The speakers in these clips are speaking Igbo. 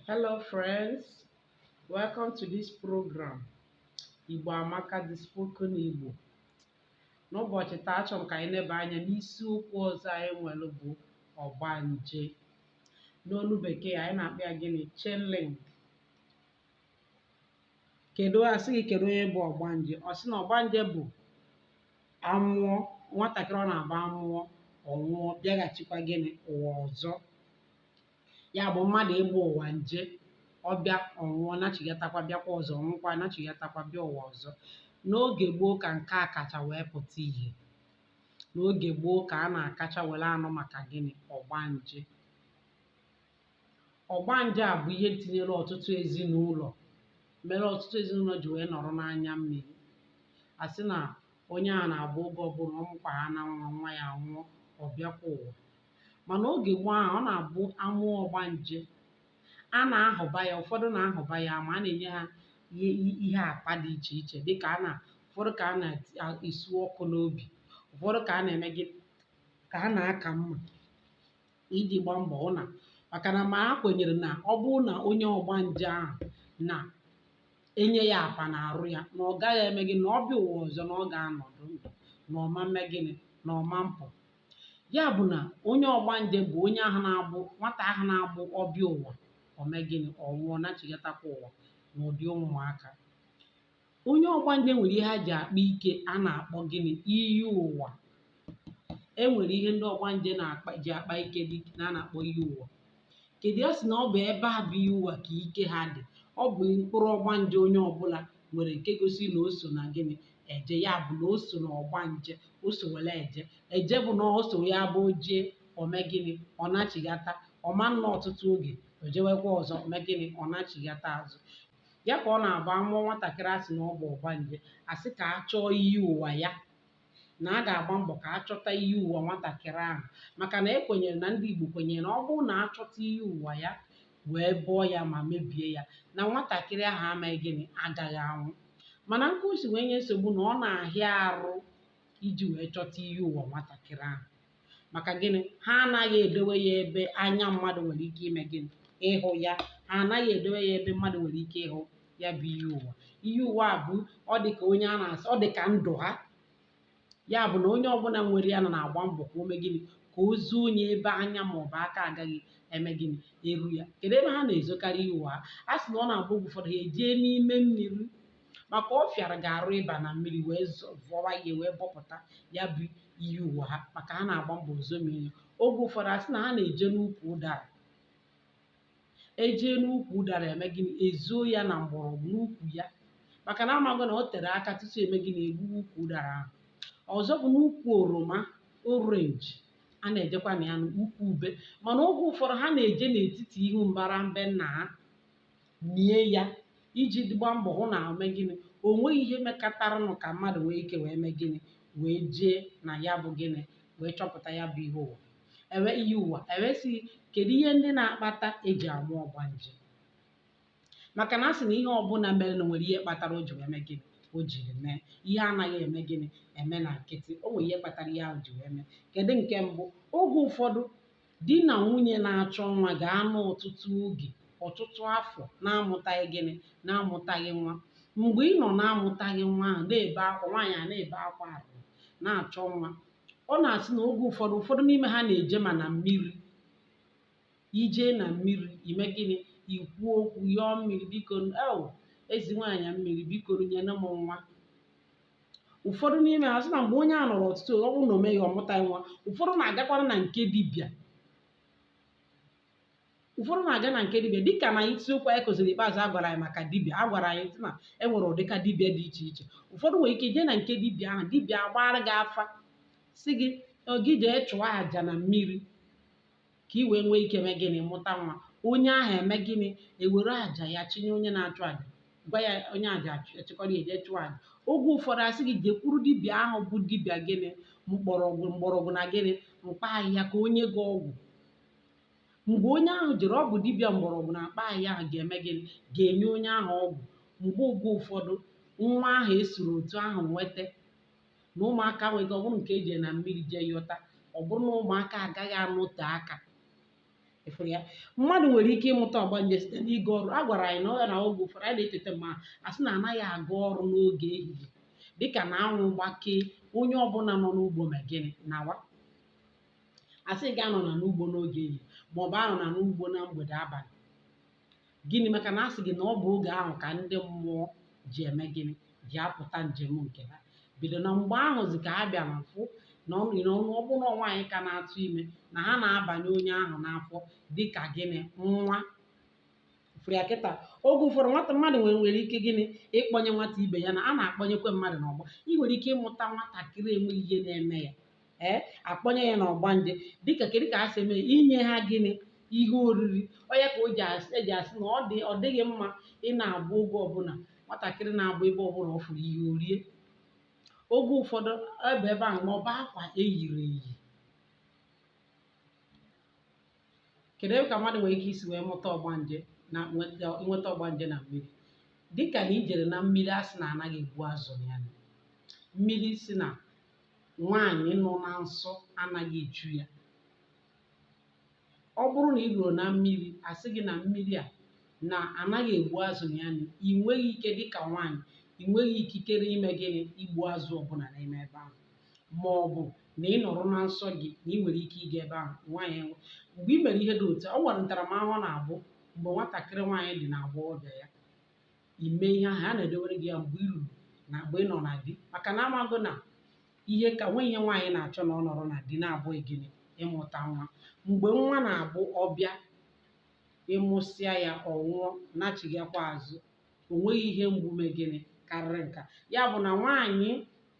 Hello friends, welcome to this program Igbo Amaka the spoken Igbo. N'ụbọchị taa achọrọ m ka anyị neba anya n'isiokwu ọzọ anyị nwere bụ ọgbanje. N'olu bekee anyị na-akpọ ya gịnị changeling. Kedu a sị gị kedu onye bụ ọgbanje? Ọ sị na ọgbanje bụ a mụọ nwatakịrị ọ na-abụ a mụọ ọ nwụọ bịaghachikwa gịnị ụwa ọzọ. ya bụ mmadụ ịgba ụwa nje ọ bịa ọ nwụọ nachigatakwa bịakwa ọzọ ọ nwụkwa nachigatakwa bịa ụwa ọzọ n'oge gboo ka nke a kacha wee pụta ìhè n'oge gboo ka a na-akacha were anụ maka gịnị ọgbanje ọgbanje a bụ ihe tinyere ọtụtụ ezinụlọ mere ọtụtụ ezinụlọ ji wee nọrọ n'anya mmiri a sị na onye a na-abụ oge ọbụla ọ mụkwa ha na nwa nwa ya anwụọ ọ bịakwa ụwa mana oge gboo ahụ ọ na-abụ a mụọ ọgbanje a na-ahụba ya ụfọdụ na-ahụba ya ama a na-enye ha ihe ihe apa dị iche iche dịka a na ụfọdụ ka a na-esu ọkụ n'obi ụfọdụ ka a na-eme gịnị ka a na-aka mma iji gbaa mbọ hụ na maka na ma ha kwenyere na ọ bụrụ na onye ọgbanje ahụ na e nye ya apa n'arụ ya na ọ gaghị eme gịnị na ọ bịa ụwa ọzọ na ọ ga-anọdụ ndụ na ọ ma mme gịnị na ọ ma mpụ ya bụ na onye ọgbanje bụ onye ahụ na-abụ nwata ahụ na-abụ ọ bịa ụwa ọ mee gịnị ọ nwụọ nachigatakwa ụwa n'ụdị ụmụaka onye ọgbanje nwere ihe ha ji akpa ike a na-akpọ gịnị iyi ụwa e nwere ihe ndị ọgbanje ji akpa ike na a na-akpọ iyi ụwa kedu ya sị na ọ bụ ebe a bụ iyi ụwa ka ike ha dị ọ bụ mkpụrụ ọgbanje onye ọbụla nwere nke gosi na o so na gịnị eje ya bụ na o so na ọgbanje o so were eje eje bụ na o so ya bụ o jee o mee gịnị ọ nachigata ọ ma nnọ ọtụtụ oge o jewekwa ọzọ o mee gịnị ọ nachigata azụ ya ka ọ na-abụ a mụọ nwatakịrị a sị na ọ bụ ọgbanje a sị ka a chọọ iyi ụwa ya na a ga-agba mbọ ka a chọta iyi ụwa nwatakịrị ahụ maka na e kwenyere na ndị Igbo kwenyere na ọ bụrụ na a chọta iyi ụwa ya wee bọọ ya ma mebie ya na nwatakịrị ahụ ama eme gịnị agaghị anwụ mana nke o si wee nye nsogbu na ọ na-ahịa arụ iji wee chọta iyi ụwa nwatakịrị ahụ maka gịnị ha anaghị edowe ya ebe anya mmadụ nwere ike ime gịnị ịhụ ya ha anaghị edowe ya ebe mmadụ nwere ike ịhụ ya bụ iyi ụwa iyi ụwa a bụ ọ dị ka onye a na-asị ọ dị ka ndụ ha ya bụ na onye ọbụla nwere ya nọ na-agba mbọ ka o mee gịnị ka o zonye ebe anya ma ọ bụ aka agaghị eme gịnị eru ya kedu ebe ha na-ezokarị iyi ụwa ha a sị na ọ na-abụ oge ụfọdụ ha ejee n'ime mmiri maka ọ fịara gị arụ ịba na mmiri wee vọwa ihe wee bọpụta ya bụ iyi ụwa ha maka ha na-agba mbọ zomie ya oge ụfọdụ asị na ha na-eje n'ukwu ụdara ejee n'ukwu ụdara eme gịnị ezuo ya na mgbọrọgwụ n'ukwu ya maka na amaghị na o tere aka tutu eme gịnị egbuwe ukwu ụdara ahụ ọzọ bụ n'ukwu oroma orenji a na-ejekwa na ya n'ukwu ube mana oge ụfọdụ ha na-eje n'etiti ihu mbara mbe nna ha mie ya iji gba mbọ hụ na ome gịnị o nweghị ihe mekataranụ ka mmadụ nwee ike wee mee gịnị wee jee na ya bụ gịnị wee chọpụta ya bụ ihe ụwa ewe iyi ụwa ewee sị kedu ihe ndị na-akpata eji amụ ọgbanje maka na a sị na ihe ọbụla merenụ nwere ihe kpatara o ji wee mee gịnị o jiri mee ihe anaghị eme gịnị eme na nkịtị o nwere ihe kpatara ihe ahụ ji wee mee kedu nke mbụ oge ụfọdụ Di na nwunye na-achọ nwa ga-anọ ọtụtụ oge, ọtụtụ afọ na-amụtaghị gịnị? Na-amụtaghị nwa. Mgbe ị nọ na-amụtaghị nwa ahụ, na-ebe akwa, nwaanyị a na-ebe akwa ahụ, na-achọ nwa. Ọ na-asị na oge ụfọdụ, ụfọdụ n'ime ha na-eje ma na mmiri. Ije na mmiri, ime gịnị? Ikwu okwu, yọọ mmiri, biko, eo, eze nwaanyị mmiri, biko, nyenụ m nwa. ụfọdụ n'ime ha sị na mgbe onye a nọrọ ọtụtụ ọ bụrụ na o meghị ọ mụtaghị nwa ụfọdụ na-agakwara na nke dibịa ụfọdụ na-aga na nke dibịa dịka na isiokwu anyị kụziri ikpeazụ a gwara anyị maka dibịa a gwara anyị sị na e nwere ụdịka dibịa dị iche iche ụfọdụ nwere ike jee na nke dibịa ahụ dibịa agbaara gị afa sị gị gị jee chụọ aja na mmiri ka i wee nwee ike mee gịnị mụta nwa onye ahụ eme gịnị ewere aja ya chinye onye na-achụ aja gwa ya onye aja achịkọrọ ya jee chụọ aja oge ụfọdụ asị gị jekwuru dibịa ahụ bụ dibịa gịnị mgbọrọgwụ na gịnị mkpa ahịhịa ka o nye gị ọgwụ mgbe onye ahụ jere ọ bụ dibịa mgbọrọgwụ na mkpa ahịhịa ahụ ga-eme gịnị ga-enye onye ahụ ọgwụ mgbe oge ụfọdụ nwa ahụ esiri otu ahụ nweta na ụmụaka nwere ike ọ bụrụ nke eji na mmiri jee yọta ọ bụrụ na ụmụaka agaghị anọte aka ị fụrụ ya mmadụ nwere ike ịmụta ọgbanje site n'ịga ọrụ a gwara anyị na ọ ya na oge ụfọdụ anyị na-eteta ma a sị na anaghị aga ọrụ n'oge ehihie dịka na anwụ gbakee onye ọbụla nọ n'ugbo mee gịnị nawa a sị gị anọna n'ugbo n'oge ehihie maọbụ anọna n'ugbo na mgbede abalị gịnị maka na a sị gị na ọ bụ oge ahụ ka ndị mmụọ ji eme gịnị ji apụta njem nke ha bido na mgbe ahụzi ka ha bịara fụ na ọ bụrụ na nwaanyị ka na-atụ ime na ha na-abanye onye ahụ n'afọ dịka gịnị nwa fụrụ ya kịta oge ụfọdụ nwata mmadụ nwere nwere ike gịnị ịkpọnye nwata ibe ya na a na-akpọnyekwe mmadụ n'ọgbọ ị nwere ike ịmụta nwatakịrị enweghị ihe na-eme ya ee akpọnye ya n'ọgbanje dịka kedu ka ha si eme inye ha gịnị ihe oriri ọ ya ka o ji asị eji asị na ọ dị ọ dịghị mma ị na-abụ oge ọbụla nwatakịrị na-abụ ebe ọbụla ọ fụrụ ihe o rie oge ụfọdụ ebe ebe ahụ ma ọ bụ akwa eyiri eyi kedu ebe ka mmadụ nwere ike isi wee mụta ọgbanje na nweta nweta ọgbanje na mmiri dịka na i jere na mmiri a sị na anaghị egbu azụ na ya na mmiri sị na nwaanyị nọ na nsọ anaghị echu ya ọ bụrụ na i ruru na mmiri asị gị na mmiri a na anaghị egbu azụ na ya na ị nweghị ike dị ka nwaanyị ị nweghị ikikere ime gịnị igbu azụ ọbụla n'ime ebe ahụ ma ọ bụ na ị nọrọ na nsọ gị na ị nwere ike ịga ebe ahụ nwaanyị mgbe ị mere ihe dị otu a, ọ nwere ntaramahụhụ na-abụ mgbe nwatakịrị nwaanyị dị na agbọghọbịa ya i mee ihe ahụ a na-edewere gị ya mgbe i ruru na mgbe ị nọ na di maka na amago na ihe ka nwe ihe nwaanyị na-achọ na ọ nọrọ na di na-abụ gịnị ịmụta nwa mgbe nwa na-abụ ọ bịa ị mụsịa ya ọ nwụọ nachigakwa azụ o nweghị ihe mgbu mee gịnị karịrị nka ya bụ na nwaanyị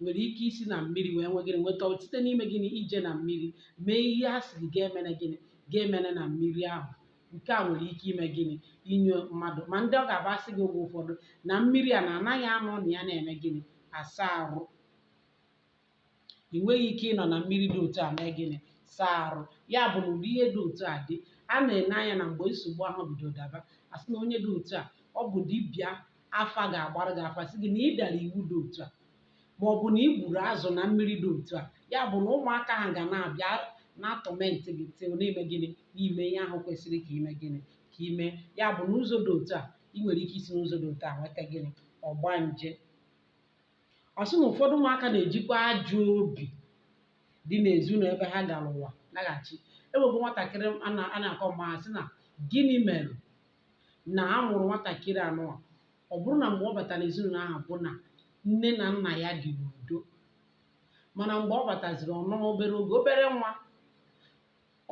nwere ike isi na mmiri wee nwee gịnị nweta site n'ime gịnị ije na mmiri mee ihe a sịrị gị emene gịnị gị emene na mmiri ahụ nke a nwere ike ime gịnị inye mmadụ ma ndị ọ ga-abụ asị gị oge ụfọdụ na mmiri a na anaghị anọ na ya na-eme gịnị asa arụ ị nweghị ike ịnọ na mmiri dị otu a mee gịnị saa arụ ya bụ na ụdị ihe dị otu a dị a na-ene anya na mgbe nsogbu ahụ bido daba asị na onye dị otu a ọ bụ dibịa afa ga-agbara gị afa sị gị na ị dara iwu dị otu a ma ọ bụ na ị gburu azụ na mmiri dị otu a ya bụ na ụmụaka ahụ ga na-abịa na-atọmentị gị till na i mee gịnị na i mee ihe ahụ kwesịrị ka i mee gịnị ka i mee ya bụ n'ụzọ dị otu a ị nwere ike isi n'ụzọ dị otu a nweta gịnị ọgbanje ọ sị na ụfọdụ ụmụaka na-ejikwa ajọ obi dị n'ezinụlọ ebe ha gara ụwa laghachi e nwebu nwatakịrị a na-akọ maka ya sị na gịnị mere na a mụrụ nwatakịrị a n'ụwa ọ bụrụ na mgbe ọ batara n'ezinụlọ ahụ bụ na nne na nna ya dị n'udo mana mgbe ọ bataziri ọ nọọ obere oge obere nwa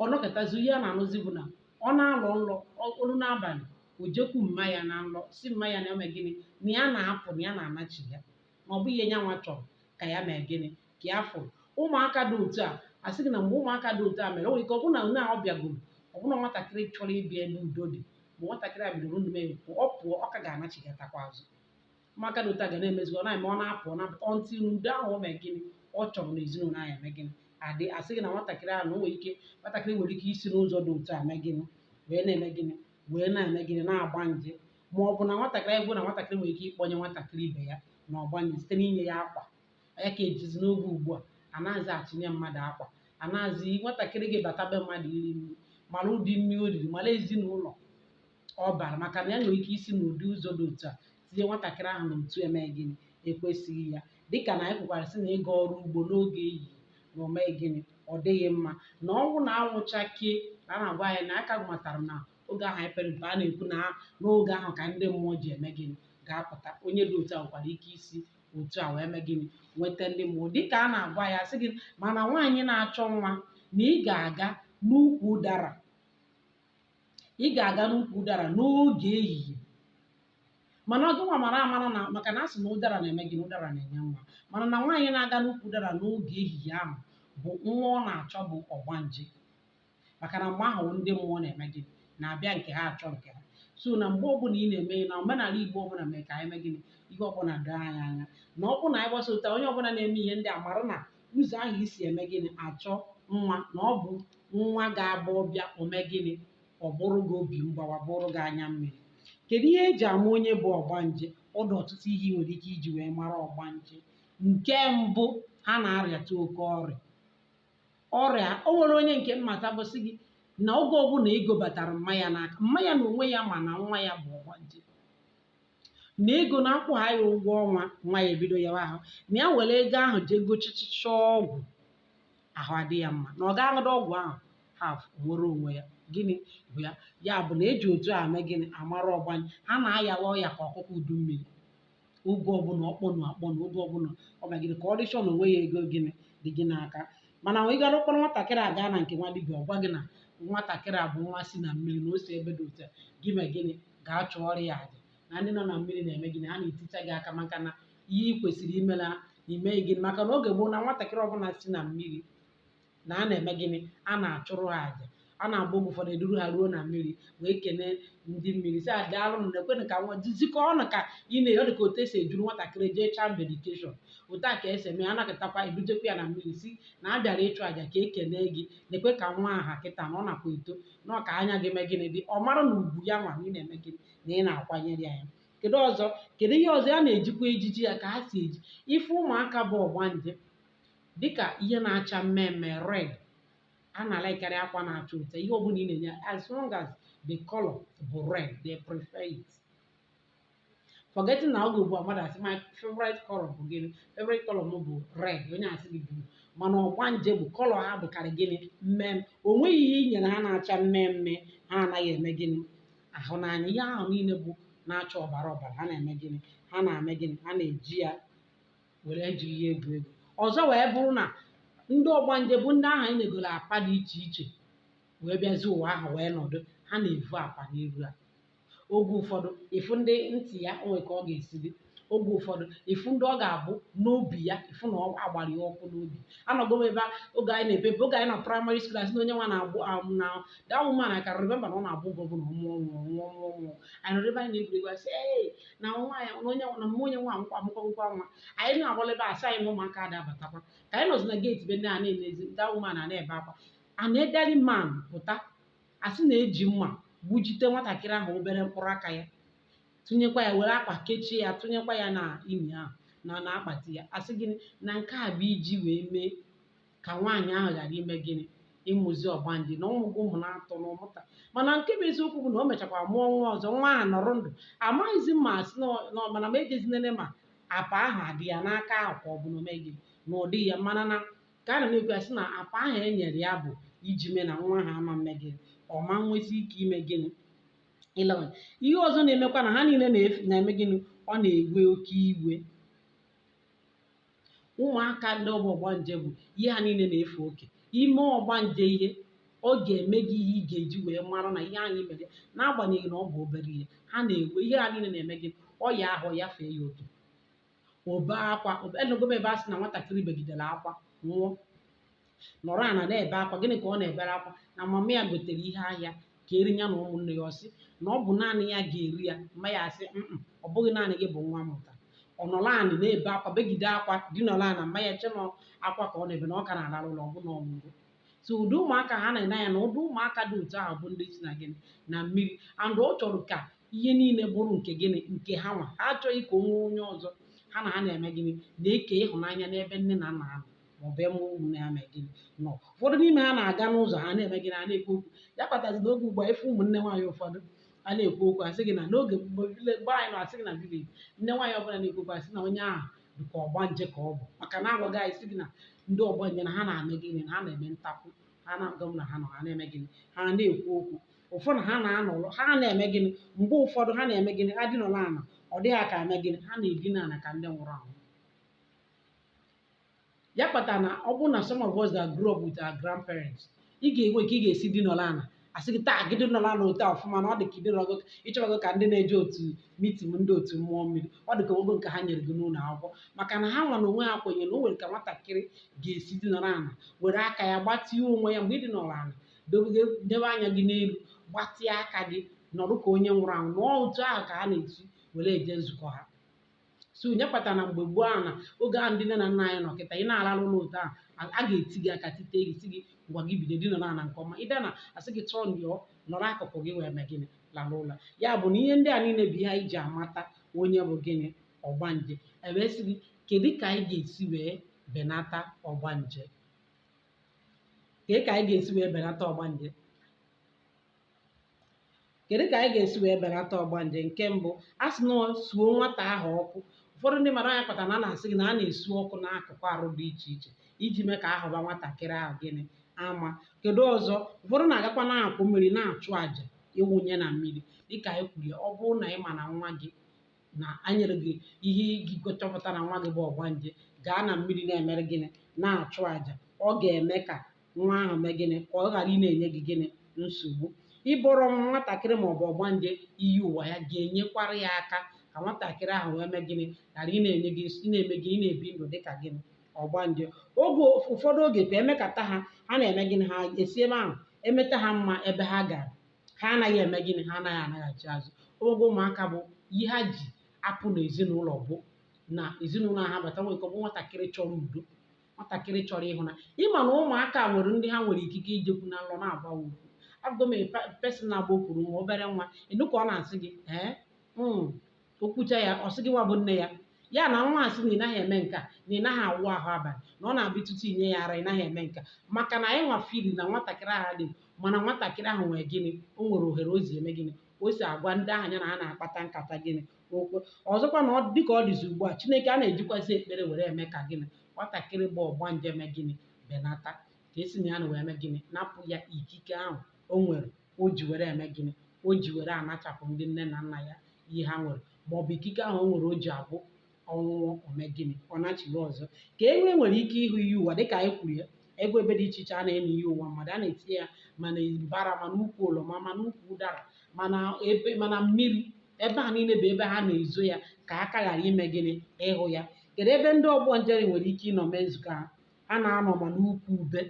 ọ nọkatazi ihe a na-anụzi bụ na ọ na-alọ nlọ o luo n'abalị o jekwu mma ya na nlọ sị mma ya na eme gịnị na ya na-apụ na ya na-anachi ya na ọ bụghị ihe ya nwa chọrọ ka ya mee gịnị ka ya fụrụ ụmụaka dị otu a asị gị na mgbe ụmụaka dị otu a mere o nwere ike ọ bụrụ na onye ahụ bịagoro ọ bụrụ na nwatakịrị chọrọ ịbịa ebe udo dị ma nwatakịrị a bidoro ndụ mee pụọ ọ pụọ ọ ka ga-anachigatakwa azụ ụmụaka dị otu a ga na-emezi ọ na-eme ọ na-apụ ọ na-apụta until udo ahụ o mee gịnị ọ chọrọ n'ezinụlọ ahụ eme gịnị adị asị gị na nwatakịrị ahụ na o nwere ike nwatakịrị nwere ike isi n'ụzọ dị otu a mee gịnị wee na-eme gịnị wee na-eme gịnị na-agba nje ma ọ bụ na nwatakịrị anyị bụ na nwatakịrị nwere ike ịkpọnye nwatakịrị ibe ya na ọgbanje site n'inye ya akwa ya ka ejizi n'oge ugbu a anaghịzi achịnye mmadụ akwa anaghịzi nwatakịrị gị bata be mmadụ iri nri mara ụdị nri o riri mara ezinụlọ ọ bara maka na ya nwere ike isi n'ụdị ụzọ dị otu a tinye nwatakịrị ahụ n'otu eme gịnị ekwesịghị ya dịka na anyị kwukwara sị na ịga ọrụ ugbo n'oge ehihie na o mee gịnị ọ dịghị mma na ọnwụ na anwụ chakee na a na-agwa anyị na aka matara na oge ahụ anyị pere mpe a na-ekwu na n'oge ahụ ka ndị mmụọ ji eme gịnị ga-apụta onye dị otu a nwekwara ike isi otu a wee mee gịnị nweta ndị mmụọ dịka a na-agwa ya sị gị mana nwaanyị na-achọ nwa na ị ga-aga n'ukwu ụdara ị ga-aga n'ukwu ụdara n'oge ehihie mana ọ gịnwa mara amara na maka na a sị na ụdara na-eme gịnị ụdara na-enye nwa mana na nwaanyị na-aga n'ukwu ụdara n'oge ehihie ahụ bụ nwa ọ na-achọ bụ ọgbanje maka na mgbe ahụ ndị mmụọ na-eme gịnị na-abịa nke ha achọ nke ha so na mgbe ọbụla ị na-eme ihe na omenala igbo ọbụla mee ka anyị mee gịnị ihe ọbụla doo anyị anya na ọ bụrụ na anyị gbasota onye ọbụla na-eme ihe ndị a mara na ụzọ ahụ i si eme gịnị achọ nwa na ọ bụ nwa ga-abụ ọ bịa o mee gịnị ọ bụrụ gị obi mgbawa bụrụ gị anya mmiri kedu ihe eji ama onye bụ ọgbanje ọ dị ọtụtụ ihe ị nwere ike iji wee mara ọgbanje nke mbụ ha na-arịata oke ọrịa ọrịa o nwere onye nke m matabu sị gị na oge ọbụla ego batara mma ya n'aka mma ya na onwe ya ma na nwa ya bụ ọgbanje na ego na-akwụ ha ya ụgwọ ọnwa nwa ya ebido yawa ahụ na ya were ego ahụ jee gochichicha ọgwụ ahụ adị ya mma na ọ ga-aṅụda ọgwụ ahụ half nwere onwe ya gịnị bụ ya ya bụ na eji otu a eme gịnị amara ọgbanje ha na-ayawa ọya ka ọkụkọ udu mmiri oge ọbụla ọ kpọnwụ akpọnwụ oge ọbụla o mee gịnị condition o nweghị ego gịnị dị gị n'aka mana ị gara kpọrọ nwatakịrị a gaa na nke nwa dibịa ọ gwa gị na nwatakịrị a bụ nwa si na mmiri na o si ebe dị otu a gị mee gịnị gaa chụọrọ ya aja na ndị nọ na mmiri na-eme gịnị ha na-eticha gị aka maka na ihe ị kwesịrị ime na i meghị gịnị maka na oge gboo na nwatakịrị ọbụla si na mmiri na a na-eme gịnị a na-achụrụ ha aja a na-agba oge ụfọdụ eduru ha ruo na mmiri wee kelee ndị mmiri sị ha daalụ na ekwenụ ka nwa zikọ ọnụ ka ị na ọ dị ka otu esi eduru nwatakịrị jee child dedication otu a ka esi eme ya a nọkatakwa edujekwa ya na mmiri sị na a bịara ịchụ aja ka e kelee gị na-ekwe ka nwa a ha kịta na ọ nakwa eto na ọ ka anya gị mee gịnị dị ọ mara na ugwu ya nwa na ị na-eme gịnị na ị na-akwanyere ya ya kedu ọzọ kedu ihe ọzọ a na-ejikwa ejiji ha ka ha si eji ife ụmụaka bụ ọgbanje dịka ihe na-acha mmee mmee red ha na-alikekarị akwa na-acha ụcha ihe ọbụla ị na-enye as long as the color bụ red they prefer it forgetting na oge ugbu a mmadụ asị my favorite color bụ gịnị favorite color m bụ red onye asị gị blue mana ọgbanje bụ color ha bụkarị gịnị mmee mmee o nweghị ihe i nyere ha na-acha mmee mmee ha anaghị eme gịnị ahụ n'anya ihe ahụ niile bụ na-acha ọbara ọbara ha na-eme gịnị ha na-eme gịnị ha na-eji ya were ji ihe egwu egwu ọzọ wee bụrụ na ndị ọgbanje bụ ndị ahụ anyị nyegoro apa dị iche iche wee bịazi ụwa ahụ wee nọdụ ha na-evu apa n'iru ha oge ụfọdụ ị fụ ndị ntị ya o nwee ka ọ ga-esi dị oge ụfọdụ ị fụ ndị ọ ga-abụ n'obi ya ị fụ na a gbara ya ọkụ n'obi anọgo m ebe a oge anyị na-epe mpe oge anyị na primary school asị na onye nwa na-agbụ am na that woman I can remember na ọ na-abụ na ọ mụọ ọ nwụọ ọ mụọ ọ nwụọ ọ mụọ anyị nọrọ ebe anyị na-egwuregwu asị ee na nwa ya na onye na mma onye nwa amụkwa amụkwa ngwa nwa anyị na-agbala ebe asị anyị na ụmụaka ada abatakwa ka anyị nọzi na gate be ndị a na-enezi that woman a na-ebe akwa an elderly man pụta asị na e ji mma gbujite nwatakịrị ahụ obere mkpụrụ aka ya tụnyekwa ya were akwa kechie ya tụnyekwa ya n'ime ahụ na na akpati ya asị gịnị na nke a bụ iji wee mee ka nwaanyị ahụ ghara ime gịnị ịmụzi ọgbanje na ọ mụgo ụmụ n'atọ na ọ mụta mana nke bụ eziokwu bụ na o mechakwa mụọ nwa ọzọ nwa ahụ nọrọ ndụ amaghịzi m ma asị na ọ- na ọ- mana m ejezi nene ma apa ahụ ọ dị ya n'aka ahụ ka ọ bụ na o meghị na ụdị ya mana na ka a na na-ekwu ya sị na apa ahụ e nyere ya bụ iji mee na nwa ahụ ama mme gịnị ọ ma nwezi ike ime gịnị ịlawa ihe ọzọ na-emekwa na ha niile na-efu- na-eme gịnị ọ na-ewe oke iwe ụmụaka ndị ọ bụ ọgbanje bụ ihe ha niile na-efe oke i mee ọgbanje ihe ọ ga-eme gị ihe ị ga-eji wee mara na ihe ahụ i mere n'agbanyeghị na ọ bụ obere ihe ha na-ewe ihe ha niile na-eme gị ọya ahụ ya fee ya oke o bee akwa anụgo m ebe a sị na nwatakịrị begidere akwa nwụọ nọrọ ana na-ebe akwa gịnị ka ọ na-ebere akwa na mama ya gotere ihe ahịa keere ya na ụmụnne ya ọ sị na ọ bụ naanị ya ga-eri ya mma ya asị "Mm-mm, ọ bụghị naanị gị bụ nwa m mụta ọ nọrọ ana na-ebe akwa begide akwa dịnọrọ ana mma ya chee na ọ akwa ka ọ na-ebe na ọ ka na-arara ụla ọ bụ na ọ nwụgo so ụdị ụmụaka ha na-ene anya na ụdị ụmụaka dị otu ahụ bụ ndị si na gịnị na mmiri and ọ chọrọ ka ihe niile bụrụ nke gịnị nke ha nwa ha achọghị ka o nwee onye ọzọ ha na ha na-eme gịnị na-eke ịhụnanya n'ebe nne na nna ha nọ maọbụ ebe ụmụnne ha mee gịnị nọ ụfọdụ n'ime ha na-aga n'ụzọ ha na-eme gịnị ha na-ekwu okwu ya kpatazi na oge ugbu a ị fụ ụmụnne nwaanyị ụfọdụ a na-ekwu okwu asị gị na n'oge mgbe villa- mgbe anyị nọ asị gị na village nne nwaanyị ọbụla na-ekwu okwu asị na onye ahụ dị ka ọgbanje ka ọ bụ maka na a gwara anyị sị gị na ndị ọgbanje na ha na-eme gịnị na ha na-eme ntakwu ha na-agwa m na ha nọ ha na-eme gịnị ha na-ekwu okwu ụfọdụ ha na-anọrọ ha na-eme gịnị mgbe ụfọdụ ha na-eme gịnị ha dịnọrọ ana ọ dị gị ka ha eme gịnị ha na-edina ana ka ndị nwụrụ anwụ ya kpatara na ọ bụrụ na some of us that grow up with our grandparents ị ga-enwe ka ị ga-esi dịnọrọ ana asị gị taa gị dịnọrọ ana otu ọfụma na ọ dị ka ịdịrọgo ịchọrọgo ka ndị na-eje otu mitin ndị otu mmụọ mmiri ọ dị ka ogo nke ha nyere gị n'ụlọ akwụkwọ maka na ha nwa na onwe ha kwenyere na o nwere ka nwatakịrị ga-esi dịnọrọ ana were aka ya gbatịa onwe ya mgbe ị dịnọrọ ana debe anya gị n'elu gbatịa aka gị nọrọ ka onye nwụrụ anwụ na otu ahụ ka ha na-esi were eje nzukọ ha so nya kpata na mgbe gboo ahụ na oge ahụ ndị nne na nna anyị nọ kịta ị na-alalụ ụla otu ahụ a a ga-eti gị aka tite gị sị gị ngwa gị bido dinara ana nke ọma ịbịa na asị gị tụọ ndịọ nọrọ akụkụ gị wee mee gịnị lalụ ụla ya bụ na ihe ndị a niile bụ ihe anyị ji amata onye bụ gịnị ọgbanje e wee sị gị kedu ka anyị ga-esi wee benata ọgbanje kedu ka anyị ga-esi wee benata ọgbanje kedu ka anyị ga-esi wee belata ọgbanje nke mbụ a sị na suo nwata ahụ ọkụ ụfọdụ ndị mmadụ ọ nya kpata na a na-asị gị na a na-esu ọkụ n'akụkụ arụ dị iche iche iji mee ka a hụba nwatakịrị ahụ gịnị ama kedu ọzọ ụfọdụ na-agakwa n'akụkụ mmiri na-achụ àjà ịwụnye na mmiri dịka anyị kwuru ya ọ bụrụ na ị ma na nwa gị na anyere gị ihe i ji chọpụta na nwa gị bụ ọgbanje gaa na mmiri na-emere gịnị na-achụ àjà ọ ga-eme ka nwa ahụ mee gịnị ka ọ ghara ị na-enye gị gịnị nsogbu ịbọrọ nwatakịrị ma ọ bụ ọgbanje iyi ụwa ya ga-enyekwara ya aka ka nwatakịrị ahụ wee mee gịnị ghara ị na-enye gị ị na-eme gị ị na-ebi ndụ dị ka gịnị ọgbanje oge ụfọdụ oge ka emekata ha ha na-eme gịnị ha esi ebe ahụ emeta ha mma ebe ha gara ha anaghị eme gịnị ha anaghị anaghachi azụ oge ụmụaka bụ ihe ha ji apụ n'ezinụlọ bụ na ezinụlọ ha bata nwere ike ọ bụ nwatakịrị chọrọ udo nwatakịrị chọrọ ịhụnanya ị ma na ụmụaka nwere ndị ha nwere ikike ijekwu na nlọ na-agwa okwu ahụgo m person na-agba okwuru nwa obere nwa ịnụ ka ọ na-asị gị ee mm, okwucha ya ọ sị gị nwa bụ nne ya ya na nwa asị na ị naghị eme nke a na ị naghị awụ ahụ abalị na ọ na-abụ ụtụtụ i nye ya ara ị naghị eme nke a maka na anyị nwa feel na nwatakịrị ahụ dị mana nwatakịrị ahụ nwere gịnị o nwere ohere o si eme gịnị o si agwa ndị ahụ ya na ha na-akpata nkata gịnị okwu ọzọkwa na dị ka ọ dịzi ugbu a chineke a na-ejikwasị ekpere were eme ka gịnị nwatakịrị bụ ọgbanje mee gịnị benata ka esi na ya na wee mee gịnị napụ ya ikike ahụ o nwere o ji were eme gịnị o ji were anachapụ ndị nne na nna ya ihe ha nwere ma ọ bụ ikike ahụ o nwere o ji abụ ọ nwụọ o mee gịnị ọ nachiri ọzọ ka e wee nwere ike ịhụ iyi ụwa dịka anyị kwuru ya e nwego ebe dị iche iche a na-eme iyi ụwa mmadụ a na-etinye ya ma na mbara ma n'ukwu oroma ma n'ukwu ụdara ma n'ebe ma na mmiri ebe a niile bụ ebe ha na-ezo ya ka aka ghara ime gịnị ịhụ ya kedu ebe ndị ọgbanje nwere ike ịnọ mee nzukọ ha ha na-anọ ma n'ukwu ube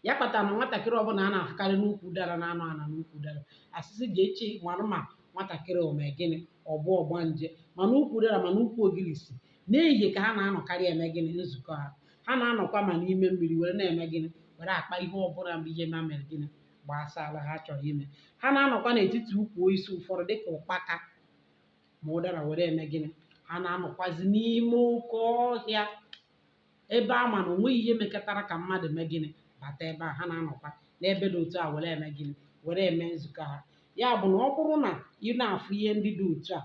ya kpatara na nwatakịrị ọbụla a na-afụkarị n'ukwu ụdara na-anọ ana n'ukwu ụdara a sị sị jee chee mara ma nwatakịrị o me gịnị ọ bụ ọgbanje ma n'ukwu ụdara ma n'ukwu ogirisi n'ehihie ka ha na-anọkarị eme gịnị nzukọ ha ha na-anọkwa ma n'ime mmiri were na-eme gịnị were akpa ihe ọbụla bụ ihe ma mere gịnị gbasara ha chọrọ ime ha na-anọkwa n'etiti ukwu osisi ụfọdụ dịka ụkpaka ma ụdara were eme gịnị ha na-anọkwazi n'ime oke ọhịa ebe a ma na onweghị ihe mekọtara ka mmadụ mee gịnị bata ebe a ha na-anọkwa n'ebe dị otu a were eme gịnị were eme nzukọ ha ya bụ na ọ bụrụ na ị na-afụ ihe ndị dị otu a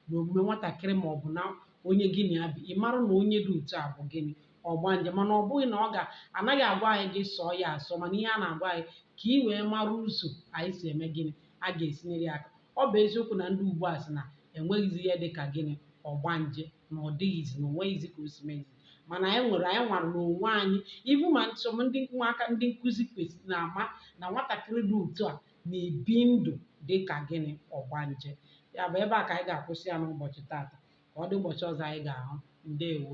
na omume nwatakịrị ma ọ bụ na onye gị na ya bi ị mara na onye dị otu a bụ gịnị ọgbanje mana ọ bụghị na ọ ga anaghị agwa anyị gị sọọ ya asọ mana ihe a na-agwa anyị ka ị wee mara ụzọ anyị si eme gịnị a ga-esi nyere ya aka ọ bụ eziokwu na ndị ugbu a sị na enweghịzi ihe dị ka gịnị ọgbanje na ọ dịghịzi na onweghịzi ka o si mezi mana anyị nwere anyị nwara n'onwe anyị ibu ma nchọm ndị ụmụaka ndị nkụzi kwesịrị na-ama na nwatakịrị dị otu a na-ebi ndụ dị ka gịnị ọgbanje ya bụ ebe a ka anyị ga-akwụsị ya n'ụbọchị taata ka ọ dị ụbọchị ọzọ anyị ga-ahụ ndewo